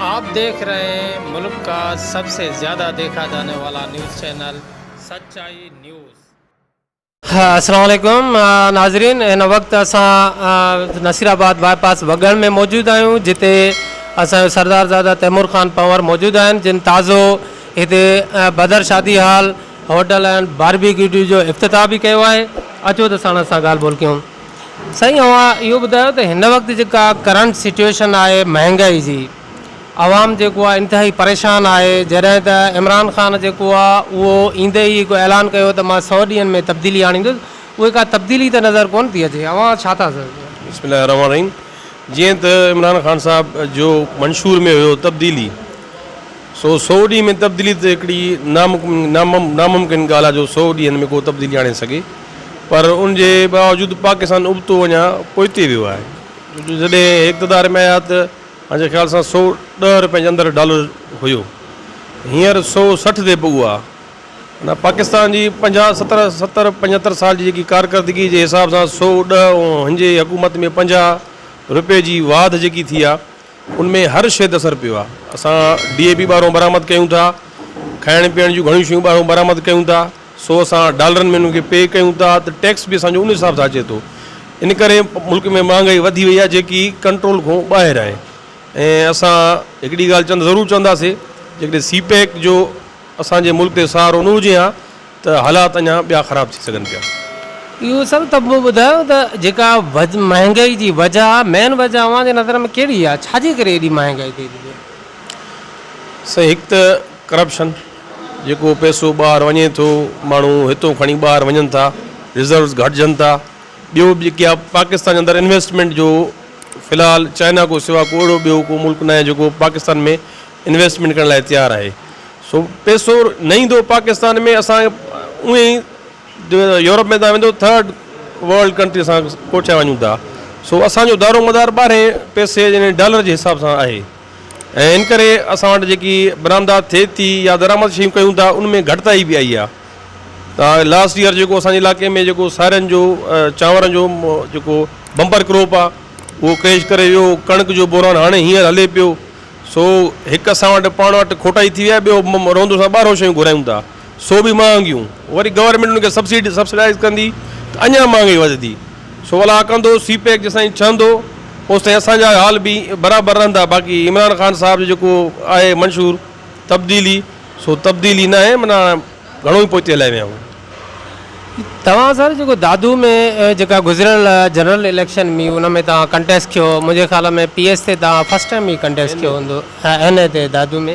آپ ديکھ رھي ھين ملڪ ڪا سب سي زياده ديکھا جاني والا نيوز چينل سچائي نيوز. السلام عليڪم ناظرين ھن وقت اسان نصير آباد باء پاس وڳڻ ۾ موجود آھيون جتي اسان جو سردار زاده تيمور خان پنور موجود آھن جن تازو ھتي بدر شادي ھال ھوٽل اينڊ باربيڪيوٽي جو افتتاح به ڪيو آھي اچو ته ساڻس سان ڳالھ ٻولھ ڪيون. سائين اوهان اهو ٻڌايو ته هن وقت جيڪا ڪرنٽ سچوئيشن آهي مهانگائي جي عوام جيڪو آهي انتهائي پريشان آهي جڏهن ته عمران خان جيڪو آهي اهو ايندي ئي هڪ اعلان ڪيو ته مان سؤ ڏينهن ۾ تبديلي آڻيندس اهي ڪا تبديلي ته نظر ڪونه ٿي اچي اوهان ڇا ٿا چئو. بسم الله الرحمٰن الرحيم جيئن ته عمران خان صاحب جو منشور ۾ هيو تبديلي سو سؤ ڏينهن ۾ تبديلي ته هڪڙي ناممڪن ڳالهه آهي جو سؤ ڏينهن ۾ ڪو تبديلي آڻي سگهي. پر ان جي باوجود پاڪستان ابتو اڃا پوئتي ويو آهي جو جڏهن هي اقتدار ۾ آيا ته مانجي خيال سان سؤ ڏهه روپين جي اندر ڊالر هيو هينئر سؤ سٺ تي پڳو آهي معنيٰ پاڪستان جي پنجاهه ستر ستر پنجهتر سال جي جيڪي ڪارڪردگي جي حساب سان سؤ ڏهه ۽ هنجي حڪومت ۾ پنجاهه روپي جي واڌ جيڪي ٿي آهي ان ۾ هر شيء تي اثر پيو آهي اسان ڊي اي پي ٻاهرون برآمد ڪيون ٿا کائڻ پيئڻ جون گهڻيون شيون ٻاهرون برآمد ڪيون ٿا سو اسان ڊالرن ۾ انهن کي پي ڪيون ٿا ته ٽيڪس به اسان جو ان حساب سان اچي ٿو. ان ڪري ملڪ ۾ مهانگائي وڌي وئي آهي جيڪي ڪنٽرول کان ٻاهر آهي ۽ اسان هڪڙي ڳالهه چوند ضرور چونداسي جيڪڏهن سي پيڪ جو اسان جي ملڪ تي سهارو نه هجي ها ته حالات اڃا ٻيا خراب ٿي سگهن پيا. اهو سر ته مون ٻڌايو ته جيڪا مهانگائي جي وجه آهي مين وجه اوهان جي نظر ۾ ڪهڙي آهي ڇا جي ڪري ايڏي مهانگائي ٿي ٿي پئي. سائين هڪ ته ڪرپشن جيڪو پئسو ٻاهر وڃي ٿو ماڻهو هتو کڻي ٻاهر وڃن ٿا ريزروز گهٽجن ٿا ٻيو به جيڪي آهي پاڪستان جي اندر انويسٽمينٽ جو في الحال چائنا کان سواء ڪو اهڙو ٻيو ڪو ملڪ ناهي جيڪو پاڪستان ۾ انويسٽمينٽ ڪرڻ لاء تيار آهي سو پئسو نه ايندو پاڪستان ۾ اسان اونئي ئي جو يورپ ۾ تان ويندو ٿرڊ ورلڊ ڪنٽري سان ڪوٺيا وڃون ٿا سو اسانجو دارومدار ٻاهرين پئسي جنهن ڊالر جي حساب سان آهي ۽ ان ڪري اسان وٽ جيڪي برآمدات ٿئي ٿي يا درآمد شيون ڪيون ٿا ان ۾ گهٽتائي به آئي آهي لاسٽ ييئر جيڪو اسان جي علائقي ۾ جيڪو سارن جو چانورن جو جيڪو بمپر ڪروپ آهي اهو ڪريش ڪري ويو ڪڻڪ جو بحران هاڻي هينئر هلي پيو سو هڪ اسان وٽ پاڻ وٽ کوٽائي ٿي ويا ٻيو رهندو سان ٻاهرو شيون گهرايون ٿا سو به مهانگيون، وري گورنمينٽ ان کي سبسڊ سبسڊائيز ڪندي ته اڃا مهانگائي وڌندي، سو ولا ڪندو سي پيڪ جيستائين ڇهندو اوستائين اسان جا حال به برابر رهندا باقي عمران خان صاحب جو جيڪو آهي منشور تبديلي سو تبديلي ناهي معنيٰ گهڻو ئي پوئتي هلائي ويا آهيون. توهان سر جيڪو دادو ۾ جيڪا گذريل جنرل اليڪشن هئي ان ۾ توهان ڪنٽيسٽ ڪيو منهنجي خيال ۾ پي ايس تي توهان فرسٽ ٽائيم ئي ڪنٽيسٽ ڪيو هوندو ها اين اي تي دادو ۾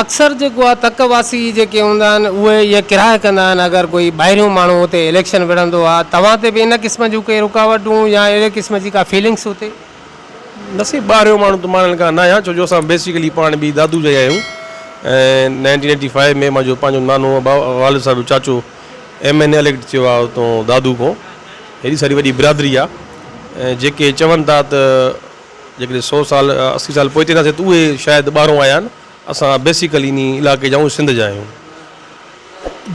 اڪثر جيڪو آ تڪ واسي جيڪي هوندا آهن اهي اها ڪراهه ڪندا آهن اگر ڪوئي ٻاهريون ماڻهو اتي اليڪشن وڙهندو آ توهان تي به ان قسم جون ڪي رڪاوٽون يا اهڙي قسم جي ڪا فيلنگس اتي نه سائين ٻاهريون ماڻهو ته ماڻهن کان نه آهيان ڇو جو اسان بيسيڪلي پاڻ به دادو جا ئي آهيون ۽ نائنٽين ايٽي فائيو ۾ مانجو پنهنجو نانو ابا والد صاحب جو چاچو ايم اين اي اليڪٽ ٿيو آ اتون دادو کون هيڏي ساري وڏي برادري آ ۽ جيڪي چون ٿا ته جيڪڏهن سو سال اسي سال پوئتي اينداسين ته اهي شايد ٻاهرون آيا آهن، اسان بيسيڪل انهي علائقي جا آهيون سنڌ جا آهيون.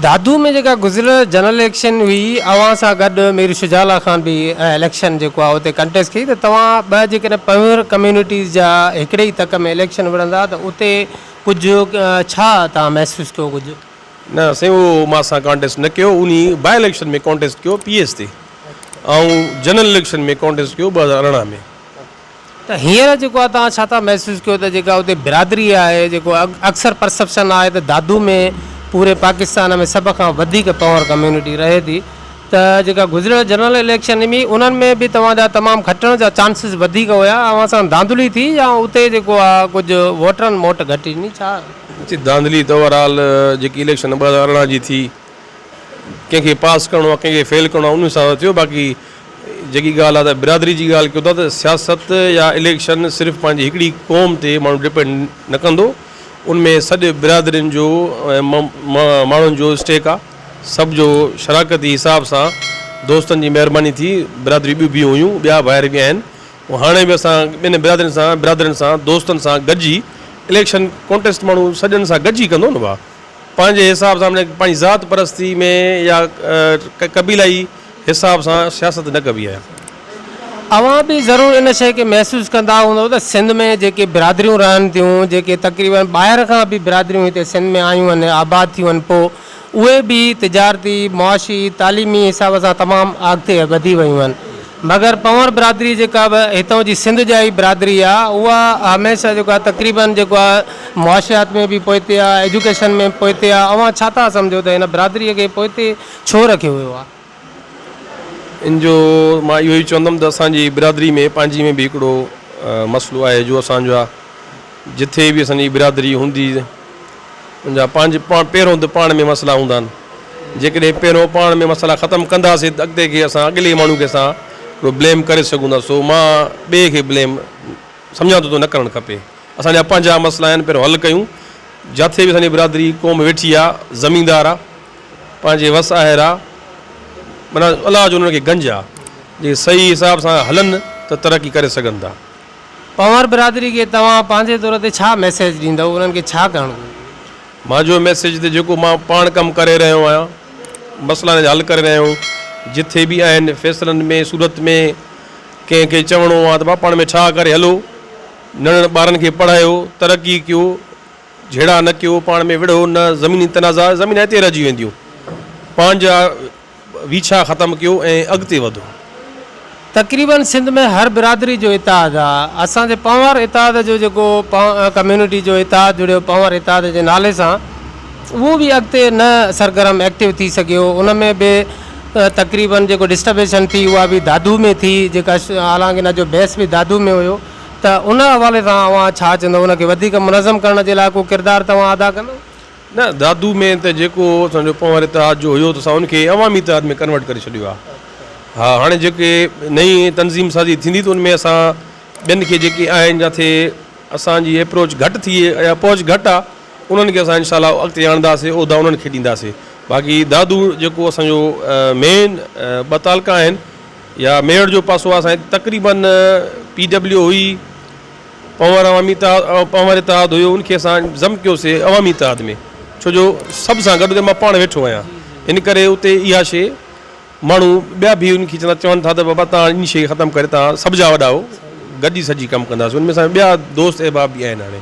دادو ۾ جيڪا گذريل جنرل اليڪشن هئي اوهان سان گڏ مير شجاع الله خان به اليڪشن جيڪو آهي اتي ڪنٽيسٽ ڪئي ته توهان ٻه جيڪڏهن پنهور ڪميونٽيز جا هڪڙي ئي تڪ ۾ اليڪشن وڙهندا ته اتي ڪجهه ڇا توهان محسوس ڪيو ڪجهه. نه سائين اهو مان اسان ڪانٽيسٽ نه ڪيو انهي باء اليڪشن ۾ ڪانٽيسٽ ڪيو پي ايس تي ۽ جنرل اليڪشن ۾ ڪانٽيسٽ ڪيو ٻه هزار ارڙهن ۾. ته هينئر جيڪو آهي توهان ڇا ٿا محسوس ڪيو ته جيڪا اتي برادري آهي جيڪو اڪثر پرسپشن آهي ته دادو ۾ پوري پاڪستان ۾ سڀ کان وڌيڪ پنور ڪميونٽي رهي ٿي ته جيڪا گذريل جنرل اليڪشن هئي انهن ۾ به توهان جا تمام کٽڻ جا چانسز وڌيڪ هيا اوهان سان ڌانڌلي ٿي يا اتي جيڪو آهي ڪجهه ووٽرن موٽ گهٽ ڏني ڇا جي ڌانڌلي ته اوور آل جيڪي اليڪشن ٻه هزار ارڙهن جي ٿي ڪنهن کي پاس ڪرڻو آهي ڪنهن کي فيل ڪرڻو آهي ان حساب سان ٿيو باقي جيڪي ڳالهه آهي ته برادري جي ڳالهه ڪيو ٿا ته سياست يا اليڪشن صرف پنهنجي هڪڙي قوم تي ماڻهو ڊپينڊ نه ڪندو ان ۾ سڏ برادرين جو ماڻهن جو اسٽيڪ آهي سڀ جو شراڪتي حساب سان دوستن جي مهرباني ٿي برادريون ٻيون به هيون ٻيا ڀائر به آهن هو هاڻي به اسان ٻين برادرين سان، برادرين سان، دوستن سان گڏجي اليڪشن ڪونٽيسٽ ماڻهو سڄڻ سان گڏجي ڪندو نه ڀاء. پنهنجي حساب سان معنيٰ پنهنجي ذات پرستي ۾ يا قبيلائي حساب سان سياست نه ڪبي آهي. اوهان به ضرور ان شيء کي محسوس ڪندا هوندؤ ته سنڌ ۾ جيڪي برادريون رهن ٿيون، جيڪي تقريباً ٻاهر کان به برادريون هتي سنڌ ۾ آيون آهن، آباد ٿيون آهن پوء اهي به تجارتي، معاشي، تعليمي حساب سان تمام آڳتي وڌي ويون آهن. مگر پنهور برادري جيڪا به هتان جي سنڌ جا ئي برادري آ اها هميشه جيڪو آ تقريبن جيڪو آ معاشيات ۾ به پوئتي آ ايجوڪيشن ۾ به پوئتي آ اوهان ڇا ٿا سمجهو ته هن برادري کي پوئتي ڇو رکيو ويو آ؟ ان جو مان اهو ئي چوندم ته اسان جي برادري ۾ پنهنجي ۾ به هڪڙو مسئلو آهي جو اسان جا جٿي به اسان جي برادري هوندي ان جا پنهنج پان پهريون ته پاڻ ۾ مسئلا هوندا آهن جيڪڏهن پهريون پاڻ ۾ مسئلا ختم ڪنداسي ته اڳتي کي اسان اڳلي ماڻهو کي اسان هڪڙو بليم ڪري سگهون ٿا سو مان ٻئي کي بليم سمجهان ٿو ته نه ڪرڻ کپي اسان جا پنهنجا مسئلا آهن پهريون حل ڪيون جاٿي به اسان جي برادري قوم ويٺي آهي زميندار آهي پنهنجي وس آهر آ، معنيٰ الله جو انهن کي گنج آ، جي صحيح حساب سان هلن ته ترقي ڪري سگهن ٿا. پنهور برادري کي توهان پنهنجي طور تي ڇا ميسيج ڏيندؤ، انهن کي ڇا ڪرڻ گهرجي؟ مان جو ميسيج ته جيڪو مان پاڻ ڪم ڪري رهيو آهيان، مسئلا انهن جا حل ڪري رهيو آهيون، جٿي به آهن فيصلن ۾ صورت ۾ ڪنهن کي چوڻو آ ته ڀاء پاڻ ۾ ٺاهه ڪري هلو، ننڍڙن ٻارن کي پڙهايو، ترقي ڪيو، جهيڙا نه ڪيو، پاڻ ۾ وڙهو نه، زميني تنازعا زمين هتي رهجي وينديون، پنهنجا ويڇا ختم ڪيو ۽ اڳتي وڌو. تقريباً سنڌ ۾ هر برادري جو اتحاد آ، اسان جي پنهور اتحاد جو جيڪو ڪميونٽي جو اتحاد جڙيو پنهور اتحاد جي نالي سان اهو به اڳتي نه سرگرم ايڪٽو ٿي سگهيو ان ۾ به تقريباً جيڪو ڊسٽربيشن ٿي اها به دادو ۾ ٿي جيڪا حالانڪ ان جو بيس به دادو ۾ هيو ته ان حوالي سان اوهان ڇا چوندؤ؟ ان کي وڌيڪ منظم ڪرڻ جي لاء ڪو ڪردار توهان ادا ڪندؤ؟ نه، دادو ۾ ته جيڪو اسان جو پنهور اتحاد جو هيو ته اسان ان کي عوامي اتحاد ۾ ڪنورٽ ڪري ڇڏيو آهي. ها هاڻي جيڪي نئين تنظيم سازي ٿيندي ته ان ۾ اسان ٻين کي جيڪي آهن جاٿي اسان جي اپروچ گهٽ ٿئي يا پهچ گهٽ آهي انهن کي اسان انشاء الله اڳتي آڻنداسي عهدا انهن کي ڏينداسي باقي دادو جيڪو اسان جو مين ٻه تعلقا آهن يا ميڙ جو پاسو آهي سائين تقريباً پي ڊبليو هئي پنهور عوامي اتحاد پنهور اتحاد هيو ان کي اسان ضم ڪيوسي عوامي اتحاد ۾ ڇو جو سڀ سان گڏ مان پاڻ ويٺو آهيان ان ڪري اتي اها شي ماڻهو ٻيا به ان کي چوندا چون ٿا ته بابا تان ان شي کي ختم ڪري تان سڀ جا وڏا آهو گڏجي سڄي ڪم ڪنداسين ان ۾ اسان ٻيا دوست احباب بي آهن هاڻي